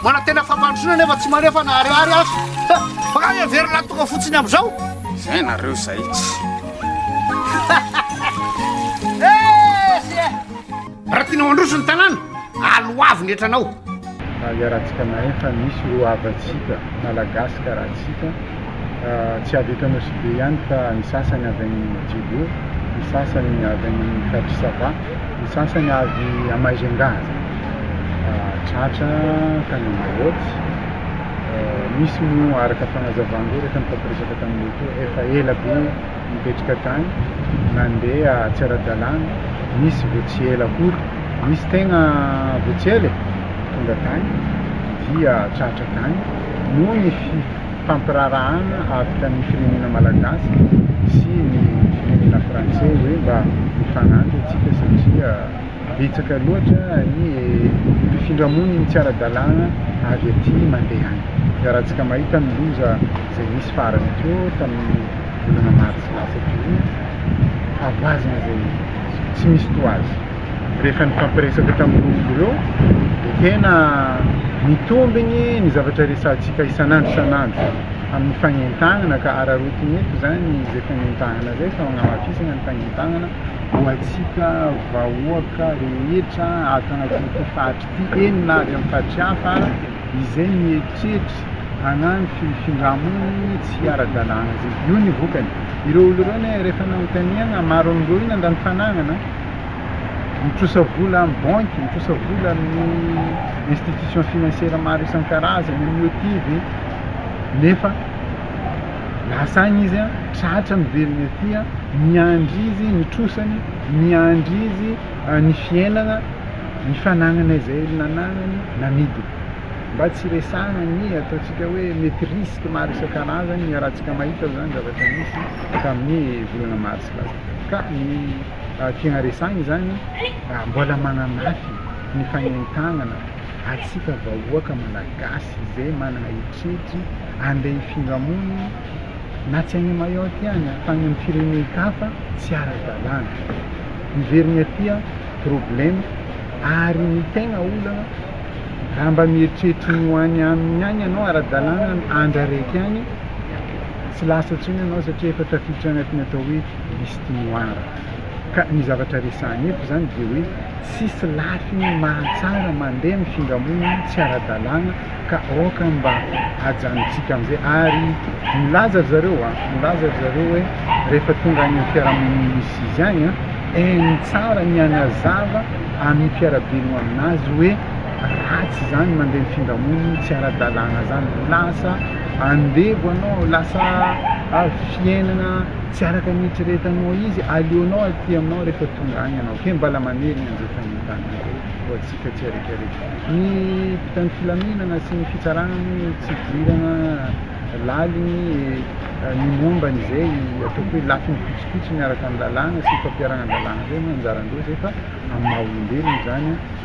Manantena fampandrosoana nefa tsy manefa na ariary aza. Makany heverina ny tonga fotsiny amin'izao. Izay nareo izay tsy. Raha tianao handroso ny tanàna, aloavy ny hetranao. Raha iarahantsika mahay fa misy roa havantsika Malagasy karahantsika. tsy avy eto Anosibe ihany fa ny sasany avy any Djibo, ny sasany avy any amin'ny faritry Sava, ny sasany avy à Majunga, tratra tany Mayotte, misy moa araka fanazavana ery efa nifampiresaka taminay teo efa ela be nipetraka tany, nandeha tsy ara-dalàna, misy vao tsy ela akory, misy tegna vao tsy ela e, tonga tany dia tratra tany noho ny fi. fampiraharahana avotra ny firenena malagasy sy ny firenena frantsay hoe mba mifagnampy atsika satria betsaka loatra ny mpifindra moniny tsy ara-dalàna avy aty mandeha any, iarahantsika mahita ny loza izay nisy farany teo tamin'ny volana martsa lasa teo io, havaozina izay tsy misy toa azy. Rehefa nifampiresaka tamin'ireo omby ireo dia tena mitombigny ny zavatra resahantsika isan'andro isan'andro amin'ny fagnentagnana ka araraotiny eto izany izay fagnentagnana izay fa agnamafisana ny fagnentagnana ho antsika vahoaka rehetra ato agnatin'ity faritra ity eny na avy amin'ny faritra hafa izay mieritreritra hagnano fifindra-monigny tsy ara-dalàna izay, io ny vokany, ireo olo ireo anie rehefa nanontaniagna maro amin'ireo io nandany fanagnana, mitrosa vola amin'ny banky, mitrosa vola amin'ny institution financière maro isan-karazany amin'ny OTIF e, nefa lasa any izy an, tratra miverina aty an, miandry izy ny trosany, miandry izy ny fiainana, ny fanagnana izay nanagnany, namidiny. Mba tsy resahina ny ataontsika hoe mety risque maro isan-karazany iarahantsika mahita izany zavatra nisy tamin'ny volana marsa lasa tany. tiana resahina izany raha mbola manamafy ny fanentanana antsika vahoaka malagasy izay manana hetrihetra andeha hifindra monina na tsy any Mayotte any fa any amin'ny firenen-kafa tsy ara-dalàna. Miverina aty aho, problème ary ny tegna olana raha mba mieritreritra ny ho any aminy any ianao ara-dalàna ny andraraiky any tsy lasa intsony ianao satria efa tafiditra agnatin'ny atao hoe liste noir. Ka ny zavatra resahina eto izany dia hoe tsisy lafiny mahatsara mandeha amin'ny findramonina tsy ara-dalàna ka aoka mba hajanontsika amin'izay ary milaza ry zareo a, milaza ry zareo hoe rehefa tonga any amin'ny fiarahamonina misy izy any a, en tsara ny hanazava amin'ny mpiara-belona aminazy hoe ratsy izany mandeha ny findramonina tsy ara-dalàna izany, lasa andevo ianao, lasa fiainana. tsy araka ny eritreretanao izy, aleonao aty aminao rehefa tonga any ianao, kay mbala manery ny anjely tanindrazana koa ho antsika tsiaraikaraiky. Ny mpitandro filaminana sy ny fitsarana moa tsy hidirana laliny ny momba an'izay ataoko hoe lafiny fotsifotsy miaraka amin'ny lalàna sy ny fampiharana ny lalàna, izay no anjaran-dry zareo fa amin'ny maha olombelona izany.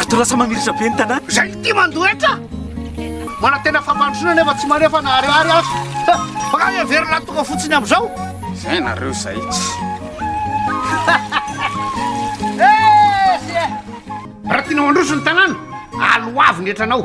Ato lasa mamirisa be ny tanàna. Izay ity mandoa hetra. Manantena fampandrosoana nefa tsy manefa na ariary aza. Bakany heverina ny tonga fotsiny amin'izao. Izay nareo izay tsy. Raha tianao handroso ny tanàna, aloavy ny hetranao.